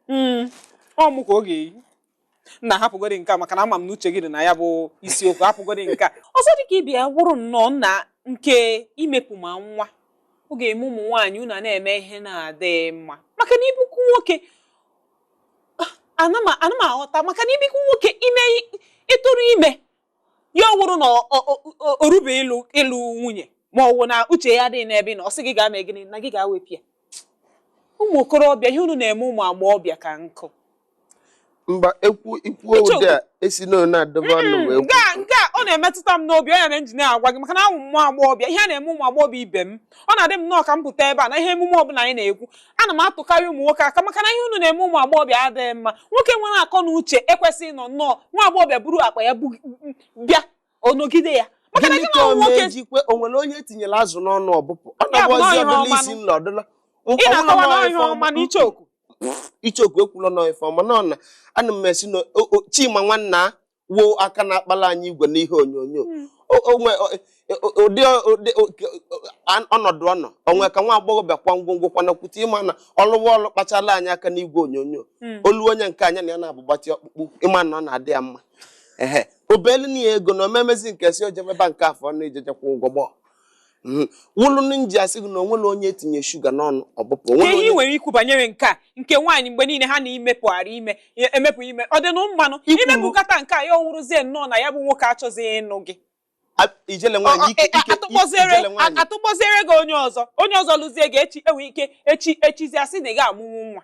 Mm, ọ mụ ka ọ ga-eyi nna hapụgodi nke a maka na ama m na uche gị dị na ya bụ isiokwu hapụgodi nke a ọzọ dịka ị bịa wụrụ nnọọ na nke imepụ ma nwa ọ ga-eme ụmụ nwaanyị unu a na-eme ihe na-adịghị mma maka na ibikwu nwoke ana m ana m aghọta maka na ibikwu nwoke ime ịtụrụ ime ya ọ wụrụ na ọ- ọ- ọ- ọ- o rube ịlụ ịlụ nwunye ma ọ wụ na uche ya adịghị n'ebe ị nọ ọ sị gị gaa mee gịnị na gị gaa wepụ ya ụmụ okorobịa ihe unu na-eme ụmụ agbọghọbịa ka nkụ mba ekwu ikwuo Uche ụdị a esi na onye na-adọba ọnụ wee kwu. nke a nke a ọ na-emetụta m n'obi ọ ya mere m ji na-agwa gị maka na awụ m nwa agbọghọbịa ihe a na-eme ụmụ agbọghọbịa ibe m ọ na-adị m nnọọ ka m pụta ebe a na ihe emume ọbụla anyị na-ekwu ana m atụkarị ụmụ nwoke aka maka na ihe unu na-eme ụmụ agbọghọbịa adịghị mma nwoke nwere akọ na uche ekwesịghị ịnọ nnọọ nwa agbọghọbịa buru akpa ya bu- bịa ọ nọgide ya maka na gịnị gị ka na ọ ụmụ nwoke na-ejikwe o nwere onye e tinyere azụ n'ọnụ ọ bụpụ ọ Ya bụ na nọbụzi ihe ọdụla ọma isi nụ. nla ọdụla ị na-akọwa na ihe ọma na Icheoku Icheoku ekwula nọ ife ọma nọ na ana m esi na o- o- Chima Nwanna a, wo aka na-akpala anyị igwe n'ihe onyonyo O- o nwe- o- o- ụdị ụdị an- ọnọdụ ọ nọ onwe ka nwa agbọghọbịa kwa ngwongwo kwanakwute ịma na ọlụwa ọlụ kpachala anyị aka n'igwe onyonyo olu onye nke anya na ya na-abụgbatị ọkpụkpụ ịma na ọ na-adị ya mma ehe obelu na ya ego na omemezi nke si ojebeba nke afọ na ijejekwa ụgwọ gbọọ Mhm. wụlụ ndị nji asị gị na onwere onye e tinye shuga n'ọnụ ọ bụpụ ka onwere ihe ị onye nwere ikwu banyere nke a nke nwaanyị mgbe niile ha na imepụgharị ime ya- emepụ ime ọ dịnụ mma nụ Ikwu- imepụkata nke a ya ọ wụrụzie nnọọ na ya bụ nwoke achọzighị ịnụ gị A- ijele Ọ- nwaanyị ọ- ike e- a- ike atụkpọziere ijele a- nwaanyị atụkpọziere gị onye ọzọ onye ọzọ lụzie gị echi enwe ike echi echizi asị na ị ga-amụnwu nwa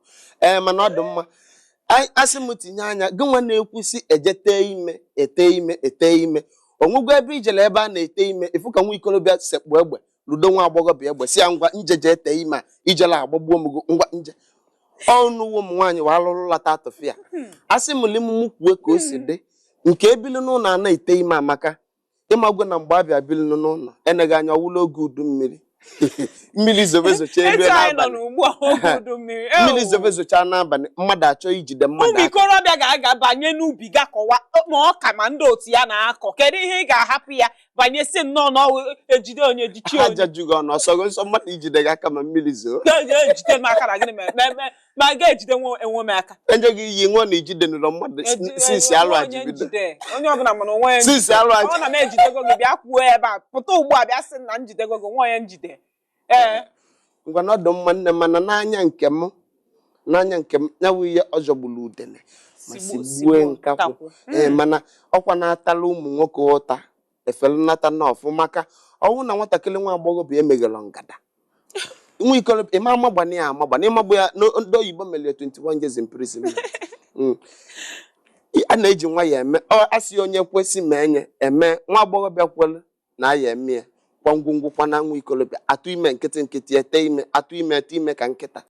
ee mana ọ dị mma Anyị- asị m tinye anya gị nwa na-ekwusi e je ete ime ete ime ete ime onwego ebe i jela ebe a na-ete ime ị fụ ka nwa ikorobịa sekpu egbe ludo nwa agbọghọbịa egbe si ya ngwa njeje ete ime a ijele agbagbuo m gị ngwa nje ọnụwo ụmụ nwaanyị wa alụrụ lata tụfịa asị m limumu kwue ka o si dị nke e bili n'ụlọ a na-ete ime Amaka ịmagwo na mgbe a bịa biri nụ n'ụlọ eneghị anya ọ wụla oge udu mmiri mmiri zobe zocha elu etu anyị nọ n'abalị n'ugbu a oge udu mmiri Ewu. mmiri zobe zocha n'abalị mmadụ achọ ijide mmadụ ụmụ aka ikorobịa ga-aga banye n'ubi ga kọwa ma ọka ma ndị otu ya na-akọ kedu ihe ị ga-ahapụ ya banye si nnọọ na ọwụ ejide onye jichi ha onye jajughị ọnụ ọ sọghị nsọ mmadụ ijide gị aka ma mmiri zoo Ga- ga- ejide m aka na gịnị mere Mee- mee- ma a ga-ejide nwe enwe m aka enyeghị iyi nwa na ijide n'ụlọ mmadụ Ejide since nwe alụ a onye ji bido njide. onye ọbụla mana onwe ya since alụ a ọ na m ejidego gị bịa kwuo ebe a pụta ugbu a bịa sị na m jidego gị nwa onye njide ee ngwa na ọ dụ mma nne mana n'anya nke m n'anya nke m ya bụ ihe ọ jọgburu udene ma Sigbu- sigbue sigbuo nkakwụ nkakwụ. ee mana ọkwa na-atala ụmụ nwoke ụta efere nnata na ọfụ maka ọ wụ na nwatakịrị nwa agbọghọbịa emeghelu ngada nwa ikolobịa amagbana ya amagbana ịmagbu ya n'o- ndị oyibo mere ya 21 years in prison Mm. a na-eji nwa ya eme ọ asị onye kwesị ma enye eme nwa agbọghọbịa kwere na ya eme ya kwa ngwongwo kwa na nwa ikolobịa atụ ime nkịtị nkịtị ete ime atụ ime ete ime ka nkịta